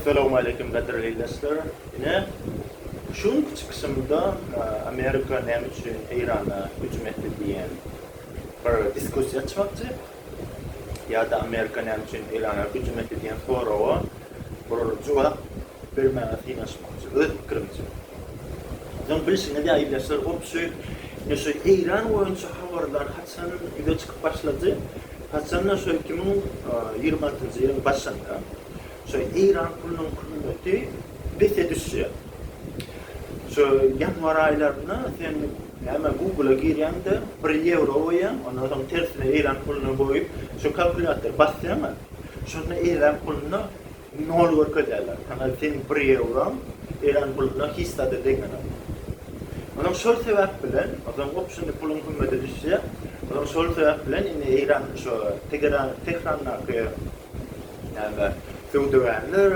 Salowmaleýkim gadyrly ildeşler! Ine, şu günki çykyşymda Amerika näme üçin Eýrana hüjüm etdi diýen bir diskussiýa açmakçy. Ýa-da Amerika näme üçin Eýrana hüjüm etdi diýen soraga bir jogap bermäge synanyşmakçy, öz pikirimçe. Soň bilşiňiz ýaly ildeşler, goňşy ine şu Eýran boýunça habarlar haçan ýüze çykyp başlady? Haçan-da şol iki müň ýigrimi altynjy ýylyň başynda Şu Eýran pulunyň kymmaty bete düşýär. Şu ýanwar aýlarynda sen näme Google-a girýäňde bir ýewro goýýaň, ondan soň tersine Eýran puluny goýup, şu kalkulýator basýaňa, şonda Eýran pulunda nol görkezýärler. Saňa seň bir ýewroň Eýran puluna hiç zada deňenok. Onsoň şol sebäp bilen, onsoň op şindi puluň kymmaty düşýär. Onsoň şol sebäp bilen indi Eýran şu Tegeran Tehrandaky Näme, söwdagärler,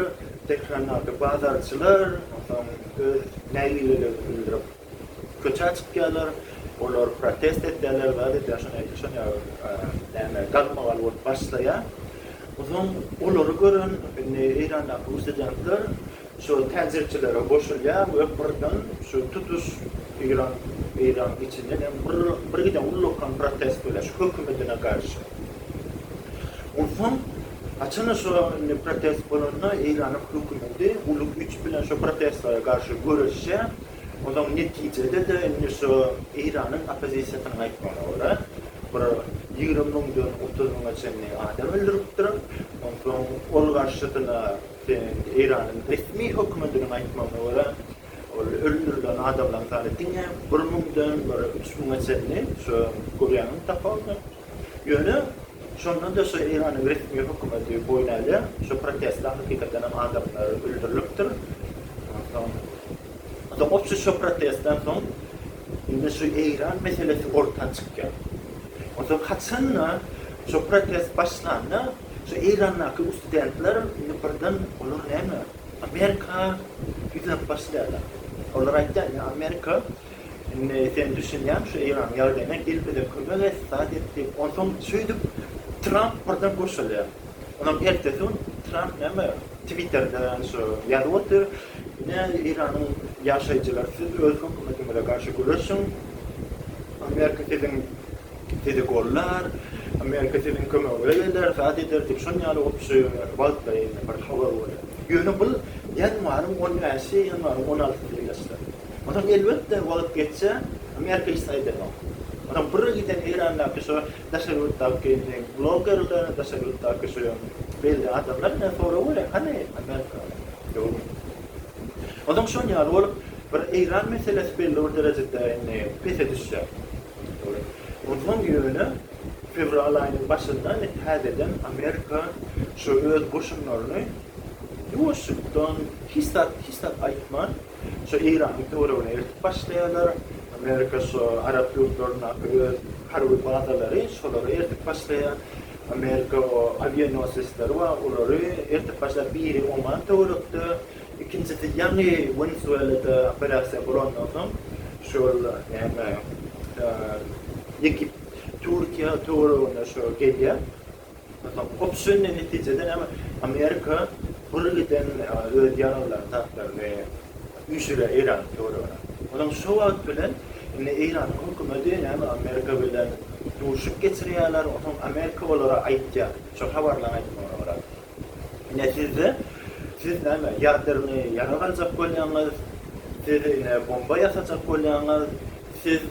Tehrandaky bazarçylar, onsoň öz nägilelerini bildirip, köçä çykýarlar. Olar protest edýärler, zat edýär, şony edýär, şony edýär, näme, galmagal bolup başlaýar. Onsoň olary gören indi Eýrandaky ussedentler şu täjirçilere goşulýar we birden şu tutuş Eýran, Eýranyň içinden hem birgiden ullakan protest bolýar şu hökümetine garşy. Onsoň haçan-da şo indi protest bolanda Eýranyň hökümeti uly güýç bilen şo protestlere garşy göreşýär. Onsoň netijede-de indi şo Eýranyň oppozisiýasynyň aýtmagyna görä, bir ýigrimi müňden otuz müňe çenli adam öldüripdir. Onsoň ol garşysyna Eýranyň resmi hökümetiniň aýtmagyna görä, ol öldürilen adamlaryň sany diňe bir müňden bir üç müňe çenli, şo görýäňmi tapawudy? Ýöne, şonda-da şu Eýranyň resmi hökümeti boýun alýar. Şu protestler hakykatdanam adamlar öldürilipdir. Onsoň, onda goçy şu protestden soň indi şu Eýran meselesi orta çykýar. Onsoň haçan-da şu protest başlanda, şu Eýrandaky ustudentler indi birden olar näme, Amerika ýüzlenip başlaýarlar. Olar aýtýar, indi Amerika Indi sen düşünýäňmi şu Eýranyň ýagdaýyna, gel bize kömek et, zat et diýip, onsoň şeýdip Tramp birden gurşalýar. Onsoň ertesi gün Tramp näme Twitterde şu ýazyp otyr, Ine Eýranyň ýaşaýjylary siz öz hökümetiňize garşy göreşiň, Amerika siziň sizi gollar, Amerika siziň kömegiňize geler, zat eder diýip şon ýaly opşy wagtlaýyn bir habar bolýar. Ýöne bul ýanwaryň on bäşi, ýanwaryň on altysy ýerleşýär. Onsoň elbetde wagt geçse, Amerika hiç zat edenok. Onsoň bir giden Eýrandaky şu daşary ýurtdaky indi bloggerler, daşary ýurtdaky şu belli adamlar bilen sorag bereýin, hany Amerika? Ýokmy? Onsoň şol ýaly bolup bir Eýran meselesi belli bir derejede indi pese düşse, dogry. Onsoň ýöne fewral aýynyň başynda indi täzeden Amerika şu öz goşunlaryny ýuwaşlykdan hiç zat, hiç zat aýtman, Şo Eýranyň töweregine eltip başlaýarlar. Amerika şo arap ýurtlaryndaky öz harby bazalary şolara eltip başlaýar. Amerika o awionosesleri bar, olary eltip başlaýar. Biri Oman töwerekde, ikinjisi ýaňy Wenesuelada operasiýa bolandan soň şol näme Egipt, Türkiýe töweregine şo gelýär. Ýa-da obşirniý netijede näme? Amerika birgiden öz ýaraglaryny, zatlaryny üýşürýär Eýranyň töweregine. Olam şo wagt bilen indi Eýranyň hökümeti näme Amerika bilen duşuk geçirýärler, onsoň Amerika olara aýtýar, şo habarlaryň aýtmagyna görä. Ine sizde, siz näme ýadernyý ýarag aljak bolýaňyz, siz ine bomba ýasajak bolýaňyz. Siz,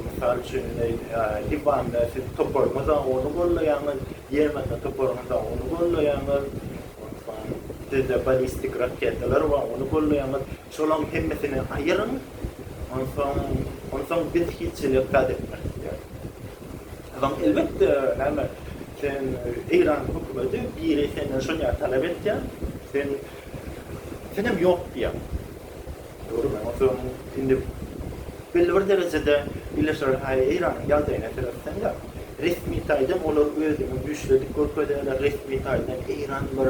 mysal üçin, indi IBAN-da siz toparyňyza ony gollaýaňyz, Ýemende toparyňyza ony gollaýaňyz, onsoň sizde balistik raketalar bar, ony gollaýaňyz. Şolaryň hemmesini aýyryň, onsoň, onsoň biz hiç hili ykrar etmeris diýer. O zaman, elbetde, näme, sen Eýranyň hökümeti, biri senden şony talap etýär, sen, senem ýok diýýäň. Görünen otagym indi belli bir derejede birleşiler haýy Eýranyň ýagdaýyna seretseň-de, resmi taýdan olar özüni güýçli edip görkezýärler, resmi taýdan Eýran bir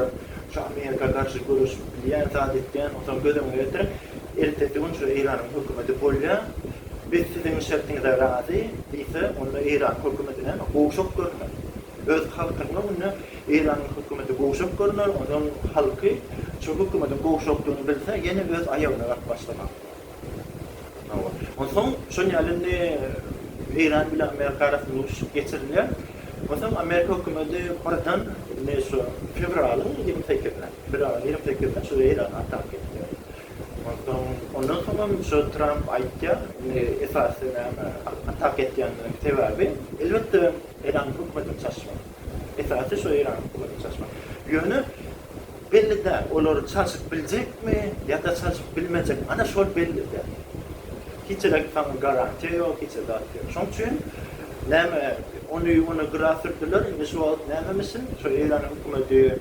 şu Amerika garşy göreşip bilýän zat etýän, otag göz öňüne getiriň, ertesi gün şu Eýranyň hökümeti bolýar, biz siziň şertiňize razy diýse, onda Eýranyň hökümetinem gowşak görünýär. Öz halkynyň öňünde. Eýranyň hökümeti gowşak görner, onuň halky şu hökümetiň gowşakdygyny bilse, ýene öz aýagyna baryp başlamaz. Hawa. Onsoň şol ýaly indi Eýran bilen Amerika arasynda urşup geçirilýär. Onsoň Amerika hökümeti birden indi şu fewralyň ýigrimi sekizine, fewralyň ýigrimi sekizine şu Eýrana atak edýär. Onsoň ondan soňam şu Tramp aýtýar, indi esasy näme atak edýänleriň sebäbi, elbetde Eýranyň hökümetini çalyşmak. Esasy şu Eýranyň hökümetini çalyşmak. Ýöne belli däl, olar çalşyp biljekmi ýa-da çalşyp bilmejekmi, ana şol belli däl. Hiç-elek saňa garantiýa ýok, hiç zat ýok. Şoň üçin näme ony-muny gyra sürdüler, indi şu wagt nämemişin, şu Eýranyň hökümeti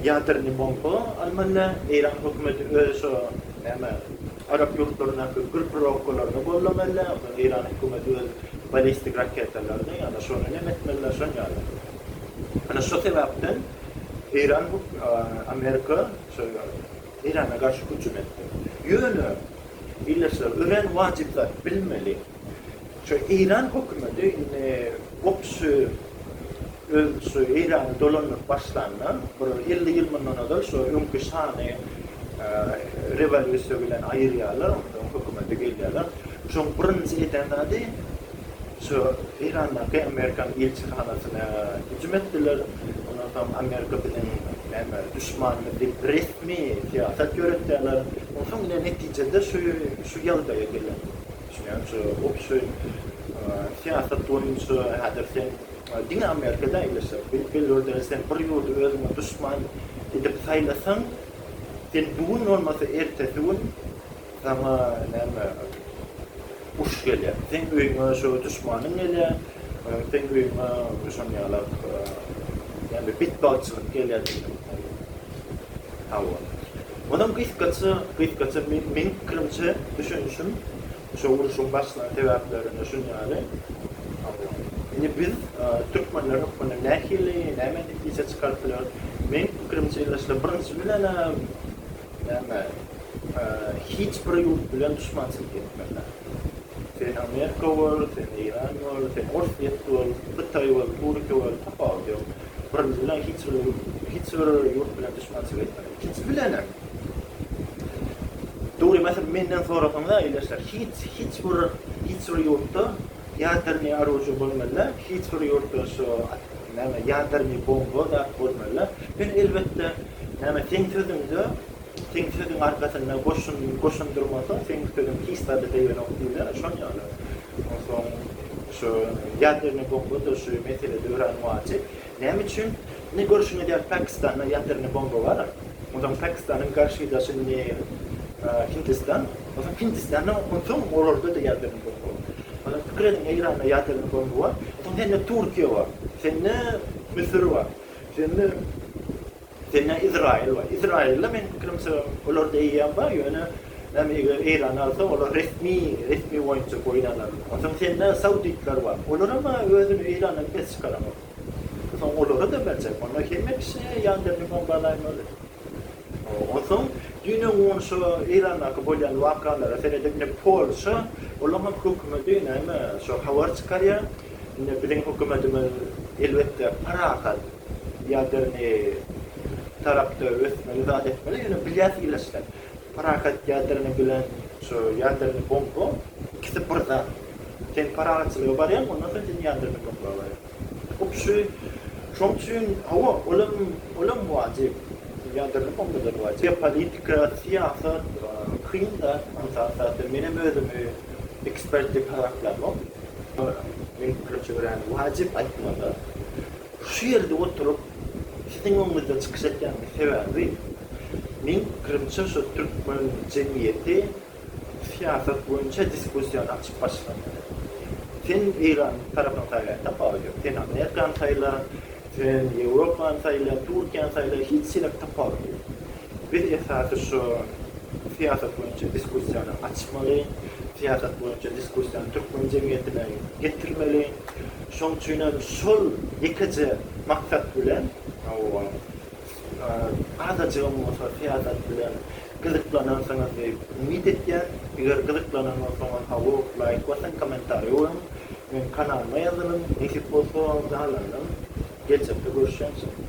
Ýadernýi bomba almanda Eýran hökümeti öz şo näme arap ýurtlaryndaky gürp rokgalaryny gollamanda onda Eýran hökümeti öz balistik raketalaryny ýa-da şony näme etmeliler şon ýaly. Ana şo sebäpden Eýran huk Amerika şo Eýrana garşy hüjüm etdi. Ýöne ildeşler örän wajyp zat bilmeli. Şu Eýran hökümeti indi gopuş-y öz şu Eýrany dolandyryp başlanda, bir elli ýyl mundan ozal şu öňki şany rewolýusiýa bilen aýyrýarlar, ondan soň hökümete gelýärler. Şoň birinji eden zady, şu Eýrandaky Amerikan ilçihanasyna hüjüm etdiler. Ondan soň Amerika biziň näme duşmanymyz diýip resmi syýasat ýöretýärler. Onsoň ine netijede şu şu ýagdaýa gelen. Düşünýäňçi, obşoý syýasat boýunça häzir sen diňe Amerikada ýerleşjek. Bilip bildur däl, sen bir ýurdy özüňe duşman edip saýlasaň, sen bu gün bolmasa ertesi gün saňa näme uruş gelýär. Seň öýüňe şo duşmanyň gelýär, seň öýüňe şonuň ýalak näme betbagtçylyk gelýär diýmek bolýar. Hawa. Onuň gysgaça, gysgaça meň pikirimçe, düşünişim şu urşuň başlan sebäplerine şun ýaly. Hawa. Indi biz türkmenler hökmünde nähili, näme netije çykaryp bileris? Meň pikirimçe ildeşler, birinji bilenem, näme, hiç bir ýurt bilen duşmançylyk etmezler. Sen Amerika bol, sen Eýran bol, sen Orsýet bol, Hytaý bol, Türkiýe bol, tapawudy ýok. Birinji bilen hiç bir ýurt bilen duşmançylyk etmezler. Hiç bilenem. Dogry mesel menden sorasaňda ildeşler hiç hiç bir hiç bir ýurtda ýadernyý aružýa bolmanda hiç bir ýurtda şu näme ýadernyý bomba zat bolmanda men elbetde näme seň sözüňde seň sözüň arkasynda goşun goşun durmasa seň sözüň hiç zada degenok diýler şon ýaly onsoň şu ýadernyý bomba da şu meselede örän wajyp. Näme üçin ne görşüň edýär pakistanda ýatyrny bomba bar onsoň pakistanyň garşydaşy ne hindistan onsoň hindistanda onsoň olarda da ýatyrny bomba bar onsoň pikir ediň eýranda ýatyrny bomba bar onsoň sende turkiýa bar sende müsür bar sende Sende Izraýyl bar. Izraýylda meniň pikirimçe olarda eýýäm bar, ýöne näme eger Eýran alsa olar resmi, resmi boýunça boýun alar. Onsoň sende sauditler bar. Olaram özüni Eýrandan pes çykaramok. Onsoň olara da berjek. Onda hemme kişi ýanderini bombalaýmaly. Onsoň düýn-ä gün şo Eýrandaky bolýan wakalara seredip indi Polşa olaňam hökümeti näme şo habar çykarýar. Indi biziň hökümetimiz elbetde parahat. ýadernýe tarapda ösmeli zat etmeli ýöne bilýäs ilaçdan parahat ýadernýe bilen şu ýadernýe bomba ikisi bir zat sen parahatçylyga barýaň ondan soň sen ýadernýe bomba barýaň hop şu şoň üçin hawa olam olam wajyp ýadernýe bomba da wajyp geopolitika syýasat kyn da ynsan zatda menem özümi ekspert diýip hasaplamok men pikirimçe görýän wajyp aýtmaly Şu ýerde oturyp, siziň öňüňizde çykyş etýäniň sebäbi, men pikirimçe şu türkmen jemgyýeti syýasat boýunça diskussiýany açyp başlamaly. Sen Eýranyň tarapyny saýlaýsaň bagy ýok. Sen Amerikany saýla, sen Ýewropany saýla, Türkiýäni saýla, hiç ýelik tapawudy ýok. Biz esasy şu syýasat boýunça diskussiýany açmaly, syýasat boýunça diskussiýany türkmen jemgyýetine getirmeli. Şoň üçin hem şol ýekeje maksat bilen, hawa, azajygam bolsa syýasat bilen gyzyklanarsyňyz diýip umyt etýän. Eger gyzyklanan bolsaňyz, hawa, laýk basyň, kommentariý goýuň, meniň kanalyma ýazylyň, nesip bolsa, galanynam geljekde görüşýämiz.